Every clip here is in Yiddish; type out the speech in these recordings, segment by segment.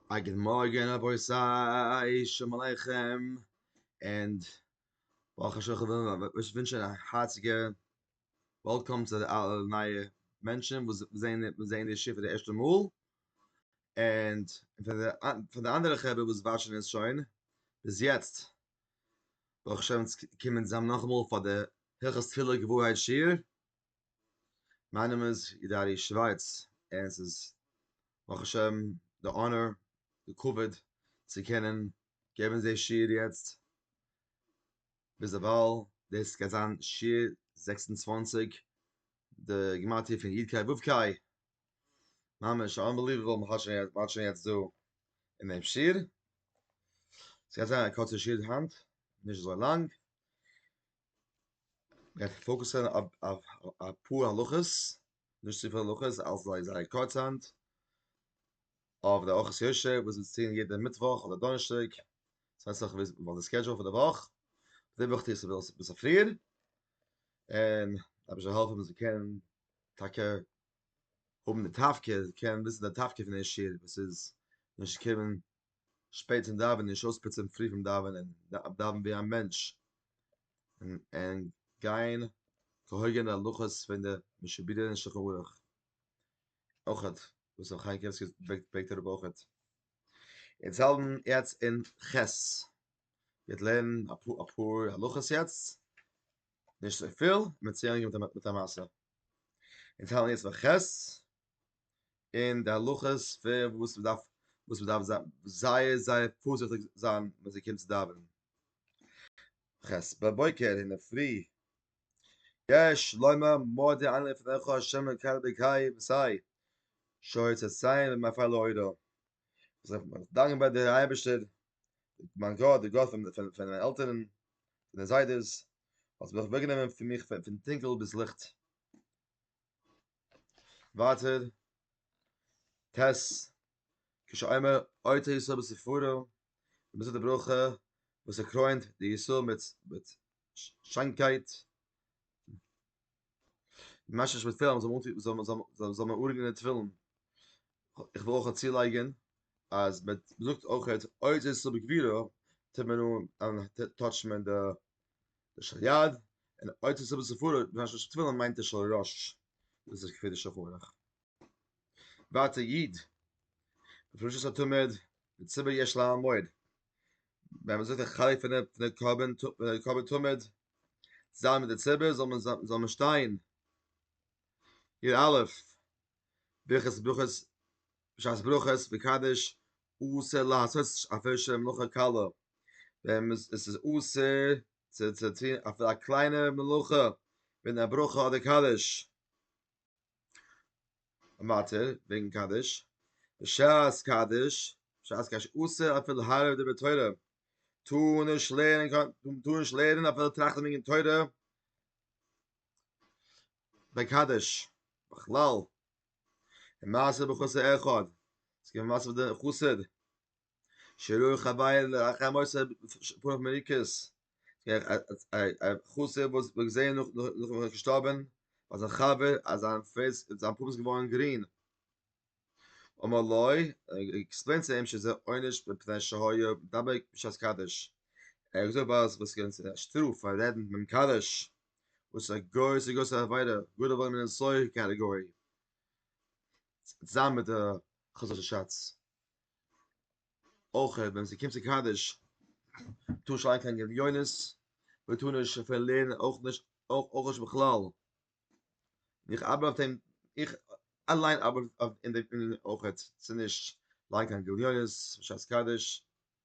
א גוט מארגען רבותי, שלום עליכם, ענד ברוך השם איך וויל אייך ווינטשען א הארציגע וועלקאם צו די אלע נייע מענטשען וואס זעהן די שיעור פאר די ערשטע מאל, ענד פאר די אנדערע חברה וואס וואטשען עס שוין ביז יעצט, ברוך השם אונז קומען צוזאם נאכאמאל פאר די הלכות תפילה געווארהייט שיעור. מיין נאמען איז ידערי שווייץ און ס'איז ברוך השם די אנער די כבוד צו קענען געבן די שיעור יעצט ביזדערווייל דאס גייט זיין שיעור זעקס און צוואַנציק די גימטריא פון י' קאי ו' קאי ממש אנבעליוועבל מען האלט שוין יעצט דא אין דעם שיעור ס'גייט זיין א קורצע שיעור היינט נישט אזוי לאנג איך וועל פאוקוסען אויף אפאר הלכות, נישט צופיל הלכות, אלעס זייער זייער קורץ היינט, אויף די ארכות יושע וואס איז צו טון יעדע מיטוואך אדער דאנערשטאג, ס'ווענדט זיך וואס די סקעדזשועל פון די וואך, די וואך טוה איך עס אביסל פריער, און אביסל העלפן ווען ס'קען טאקע האבן די תפקיד, קען וויסן די תפקיד פון די שיעור וואס איז נישט קומען שפעט צום דאווענען נישט אויספוצען פרי פון דאווענען דאווען ווי א מענטש און גיין כהוגן די הלכות פון די משוביר אין שולחן ערוך אויכעט וואס ר' חיים קעמסקי ברענגט אראפ אויכעט אונז האלטן יעצט אין ח' מ'וועט לערנען אפאר הלכות יעצט נישט צופיל מ'וועט צו ענדיגן מיט א מעשה אונז האלטן יעצט ביי ח' און די הלכות פון וואס מען דארף וואס מען דארף זיין זייער זייער פארזיכטיג זיין ווען זי קומט צו דאווענען. חס בבוקר אין דער פרי יש לומר מודה אני לפניך השם אלקי אלקי וסי שוי צאצאי ומפעל לאורו זיך דאנקען ביי דער אייבערשטער מיין גאט דער גאט פון מיינע עלטערן און זיידעס האט זיך אוועקגענומען פון מיך פון טונקל ביז ליכט ווייטער טז כשאומר אויתו ישראל בספרו וואס איז די ברכה וואס ער קרוינט די ישראל מיט מיט שיינקייט ממש נישט מיט פילן זאל מען זאל מען זאל מען אורגענען די תפילין איך וויל אויך צולייגן אז מען זאגט אויך אויתו ישראל בגבירו טוט מען אן טויטשט מען די די של יד און אוצר סבא ספרא בזמן של תפילין מיינט די של ראש דאס איז כפי די שולחן ערוך ואצל יד בפרשת התומד מיט סבא יש לה מועד ווען מען זאגט די חלק פון די קרבן קרבן תומד זאל מיט די ציבור זאל מען זאל מען שטיין איר אלף ברכת ברכות בשעת ברכות וקדש אסור לעשות אפילו של מלאכה קלה, ווען עס איז אסור צו צו טון אפילו א קליינע מלאכה ווי א ברכה אדער קדיש, ווייטער וועגן קדיש, בשעת קדיש, בשעת קדיש אסור אפילו הארעווען דברי תורה, טאר נישט לערנען קיין, טאר נישט לערנען אפילו טראכטן וועגן תורה ביי קדיש, בכלל אין מעשה בחוסר אחד, עס געווען מעשה פון די חוסר, שרוי חבייר לאחר מוסר פונעם מריקס, א חוסר וואס מ'האט געזען נאך וואס ער איז געשטארבען, אז זיין חבר אז זיין פעיס איז זיין פאות געווארען גרין, אמר לו, עקספלעינד צו אים שזה עונש מפני שהיה מדבק בשעת קדש, ער האט געזאגט ווייל עס איז געווען א שטראף פאר רעדן ביים קדש, וואס א גוי איז א גרויסע עבירה, גאר א וואלעמענע סויער קאטעגארי, צוזאמען מיט די חזר'שע שאטס, אויך ווען ס'קומט צו קדיש טאר מען נישט ליינען קיין גליונות, מען טאר נישט אפילו לערנען אויך נישט אויך נישט בכלל, איך ארבעט אויף דעם, איך אליין ארבעט אויף דעם אויך, צו נישט ליינען קיין גליונות בשעת קדיש.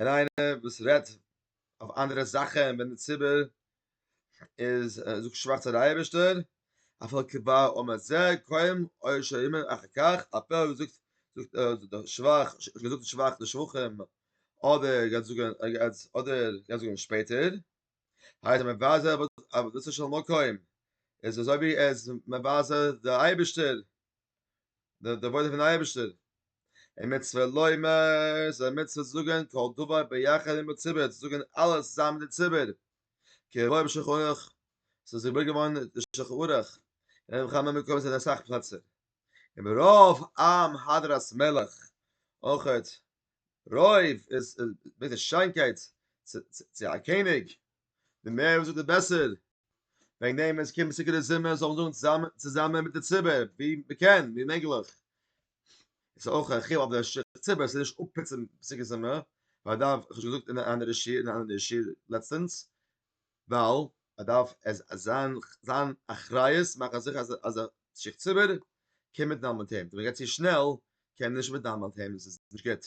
און איינער וואס רעדט אויף אנדערע זאכען ווען די ציבור איז זאגט שבח צו די אייבערשטער אפילו כבא אומר זה קוים אוי שאומר אחר כך אפילו זאגט זאגט שבח זאגט שבח די שבחים אדער גייט זאגען אדער גייט זאגען שפעטער הייסט מבזה עבודתו של מקום איז אזוי ווי ער איז מבזה די אייבערשטער דער עבודה פון אייבערשטער אין מצוה לומר זיי מצוה זאגן כל דבר ביחד עם הציבור זאגן אלעס צוזאמען מיט די ציבור כהויב שחורך ס'איז געבוירט געווארן די שחורך אין כמה מקומות אין אסאך פלעצער אין ברוב עם הדרת מלך אויכעט רוב איז מיט די שיינקייט צו א קעניג די מער וואס זאגט די בעסער וועגן דעם ווען עס קומט סעודה זומער זאל מען זאגן צוזאמען צוזאמען מיט די ציבור ווי מען קען ווי מעגליך איז אויך א חיוב אויף דער ציבור זיך נישט אפפוצן סעודה זומער ווייל דארף איך האב שוין געזאגט אין א אנדערע שיעור אין א אנדערע שיעור לעצטענס ווייל ער דארף עס זיין זיין אחריות מאכן זיכער אז אז דער שיך ציבור קען מיטנאמען מיט אים ווען מען גייט צו שנעל קען מען נישט מיטנאמען מיט אים עס איז נישט גוט.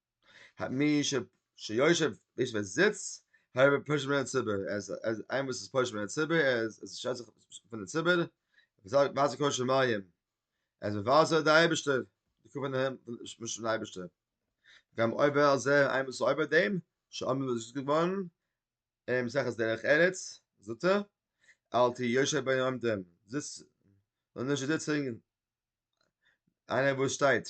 מי שיושב ביש ווער זיצט הער ווער פוש מיט ציבור אז אז איין וואס איז פוש מיט ציבור אז עס שיידט זיך פון די ציבור זאגט וואס קויש שמיים אז ווען וואס דער אייבערשטער די קומען אים מיט דעם אייבערשטער גם אויבער אז ער איין וואס אויבער דעם שאמען וואס איז געווארן אין מסכת דרך ארץ זאגט ער אל תהי יושב בין עומדים זיץ און נישט זיצן איינער וואס שטייט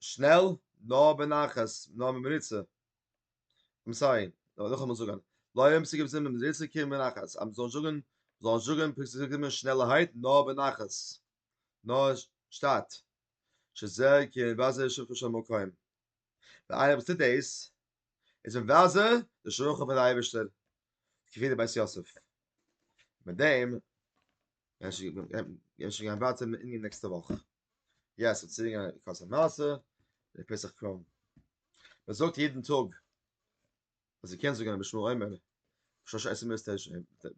שנעל נאר בנחת נאר במריצה אמסארי נאכאמאל זאגען לויען פסוקים זיין במריצה קען מען נאך אז מ'זאל זאגען זאל זאגען פסוקים שנעלערהייט נאר בנחת נאר שטאט שזה כן וזה שכב שם מקום ווען איינער וואס טוט דעיס איז ווען וזה די שכח פון די אייבערשטער כפי די בית יוסף מיט דעם גיי שוין גיין ווייטער אין די נעקסטע וואך. יעס ס'האט צוריק געגאנגען די קאסע מעשה די פסח קראם מען זאגט יעדן טאג אז זי קען זאגן בשמו עומר שש עשרה מיסט עס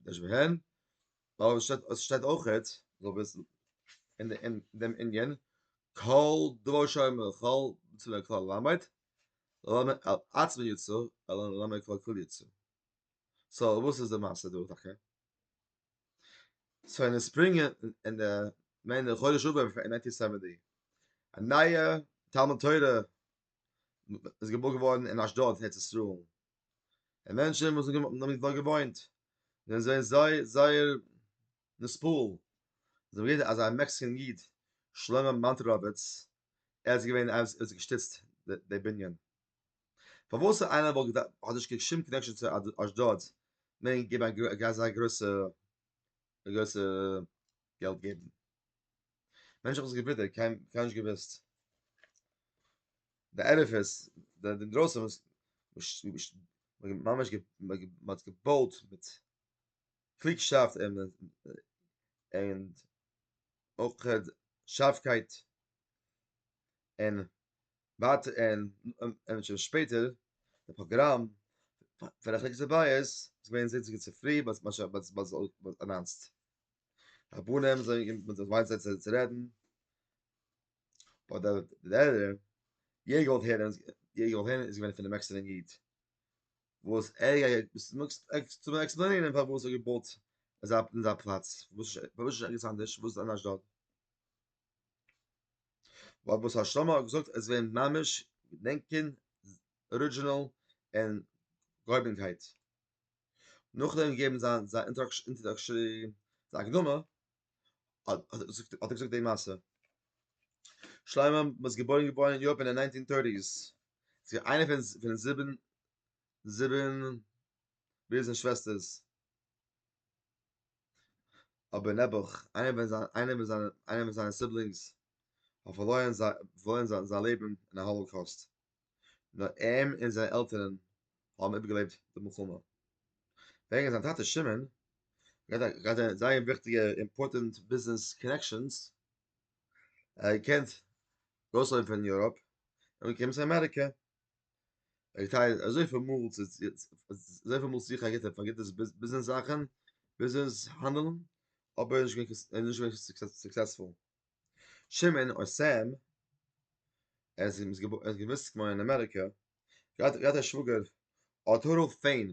דאס ווען אבער שטייט עס שטייט אויך האט זאל וויסן אין דעם אין דעם אינדיאן קאל דרוי שוין מיר קאל צו דער קאל למד לאמע אצ מיר יצא אלא לאמע קאל קאל יצא סא וואס איז דער מעשה דא דאקע סוי אין די ספרינג אין די מיין די חודש אב אין נייטין סעווענטי א נייע תלמוד תורה איז געבויט געווארן אין אשדוד ארץ ישראל און מענטשן וואס האבן דארט געוואוינט זענען זיי זיי זייער נספאל זיי האבן גערעדט אז א מעקסיקען איד שלמה מאנטראוויץ ער האט געווען ער האט געשטיצט די בנין. פארוואס איינער וואלט געדארפט האט נישט קיין שום קאנעקשאן צו אשדוד מען געבן א גרויסע אזא גרויסע א גרויסע געלט געבן מענטש איך האב עס געווידער קיין קיין נישט געוויסט די ערפעס די אינדרויסן וואס ממש מ'האט געבויט מיט קלוגשאפט און און אויך שארפקייט און ווייטער און און שוין שפעטער די פראגראם פון רחק צו בית איז געווען זיצן צו פרי ביז מאש ביז ביז אנאנסט רבנים זענען געקומען מיט זיי ווייניג צייט צו רעדן אדער דער יעדער געוואלט הערן יעדער געוואלט הערן איז געווען פון דעם עקסטערן איד וואס ער גייט וואס מעגסט צו עקספלעינען פארוואס ער געבויט אזא אזא פלאץ וואס וואס איז ערגעץ אנדערש וואס איז אנדערש דארט ווייל וואס הר ש האט געזאגט עס ווערן ממש געדענקען ארידזשינעל און געהויבענקייט נאכדעם געבן זיין זיין אינטראדאקשערי זיין הקדמה האט ער געזאגט האט ער געזאגט די מעשה שלמה איז געבוירן געווארן אין יאפען אין ניינטין טורטיס איז איינע פון זיבן זיבן ברידערס און שוועסטערס אבער נעבעך, איינער ווען זיין, איינער ווען זיין, איינער ווען זיינע סיבלינגס האבן פארלוירן זיי, פארלוירן זיי זיין לעבן אין א האלאקאוסט, נאר אים און זיין עלטערן האבן איבערגעלעבט די מלחמה. וועגן זיין טאטע שמעון, געהאט א, געהאט א זייער וויכטיגע אימפארטענט ביזנעס קאנעקשאנס, ער האט געקענט ארויסלויפן פון יוראפ און אנגעקומען צו אמעריקע, איך טייל אזוי פיל מאל צו אזוי פיל מאל צו איך א גוטע פאר גוטע ביזנעס זאכן, ביזנעס האנדלן, אבער נישט געווען נישט געווען סוקסעספול. שמעון אויף סעם, ער איז איז געוואוסט געווארן אין אמעריקע, געהאט געהאט א שוואגער אוטארל פעין,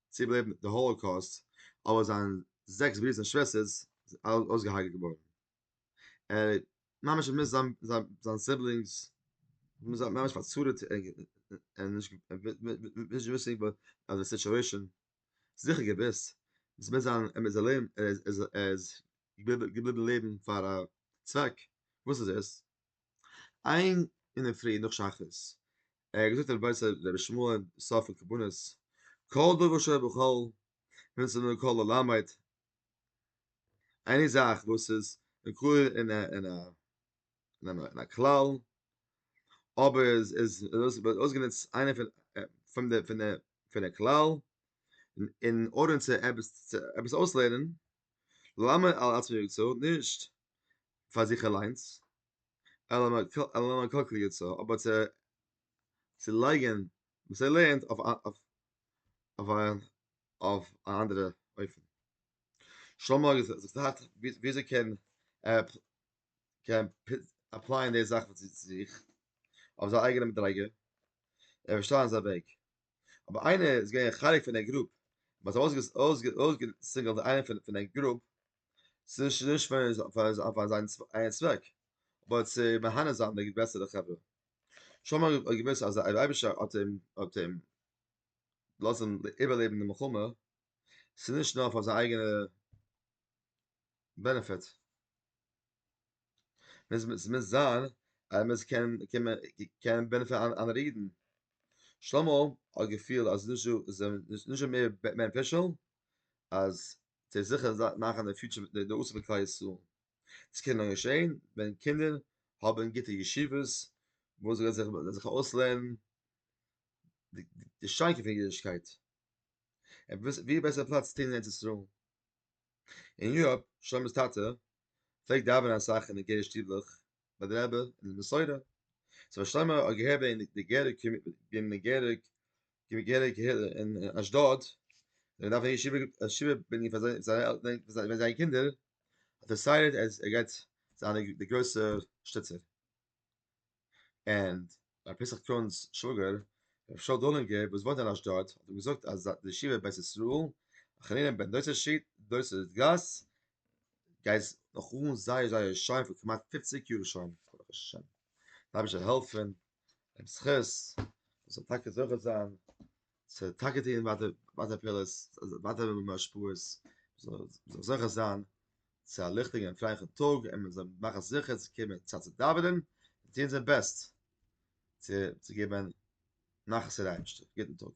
צו איבערלעבן די האלאקאוסט, אבער זיין זעקס ברידערס און שוועסטערס זענען אלע אויסגעהארגעט געווארן, ער האט ממש האט מוז זיין סיבלינגס האבן זיי ממש פארצארעט און נישט וויסענדיג אז די סיטואשען זיכער געוויסט אז מיט זיין ער איז ערלעבן ער איז ער איז געבליבן לעבן פאר א צוועק, וואס איז עס? איין אינדערפרי נאך שחרית ער האט געזאגט רבי זיי רבי שמעון סוף פון קבנות כל דבר שהיה בכל ווען עס איז נאר כל הלמד עני זאך וואס איז מקור אין א אין א אין א כלל אבער איז איז דאס אויסגענוצט איינע פון פון די פון די פון די כלל אין ארדער צו עפעס צו עפעס אויסלערנען למה על עצמו יצא נישט פאר זיך אליינס אלא מה כלכל יצא, אבער צו לייגען וואס ער לערנט אויף אויף א אנדערע אופן. שלמה האט געזאגט וויאזוי קען ער קען עפלייען די זאך צו זיך אויף זיין אייגענע מדריגה, ער וועט שטעלן זיין וועג. אבער איינער איז געווען חלק פון די גרופ, מ'האט אויסגעזינגלט איינער פון די גרופ ס'איז נישט פאר זיין אייגן צוועק, אבער צו מהנה זיין די גרעסערע חברה. שלמה האט געוואוסט אז אויב דער אייבערשטער האט אים האט אים געלאזן איבערלעבן די מלחמה, ס'איז נישט נאר פאר זיין אייגענע בענעפיט. ס'מוז זיין אז ער מוז קענען קענען בענעפיטן אנדערע אידן. שלמה האט געפילט אז ס'איז נישט דא, ס'איז נישט דא מער בענעפישעל אז זיי זיכער מאכן די פיוטשער מיט די נושא פון כלל ישראל, דאס קען נאר געשען ווען קינדער האבן גוטע ישיבות וואו זיי וועלן זיך אויסלערנען די שיינקייט פון אידישקייט, און ווי בעסער פלאץ צו טון אין ארץ ישראל, און יאפ, שלומי'ס טאטע פלעגט דאווענען אסאך אין די גער שטיבלעך, ביי די רבי אין די מסורה צו פארשטיין מיר א געהעריגע אין די געריגע אין די געריגע די געריגע אין אשדוד ווען דארף איך שיבער א שיבער בין איך פאר זיי ווען זיי קינדער האט ער סייעט אז ער גייט זיין די גרויסע שטיצער ענד רבי פסח קאהן'ס שוואגער, רבי שאול דולינגער וואס וואוינט אין אשדוד, האט אים געזאגט אז די ישיבה בית ישראל, החנינים בן דוסא שיט, דוסא גאס, גייט נאך אן זייער זייער שיין פאר כמעט פופציג יאר שוין, ברוך השם, דער אייבערשטער זאל העלפן, דעם זכות, זאל טאקע זוכה זיין. ס'וועט טאקע טוען ווייטער ווייטער פעולות, ווייטער וועלן מיר השפעות, מ'זאל זיך זוכה זיין צו א ליכטיגן און פרייליכן טאג, און מ'זאל מאכן זיכער צו קומען צייט צו דאווענען, און טוען זיין בעסט צו געבן נחת פאר די אייבערשטער. גוטן טאג.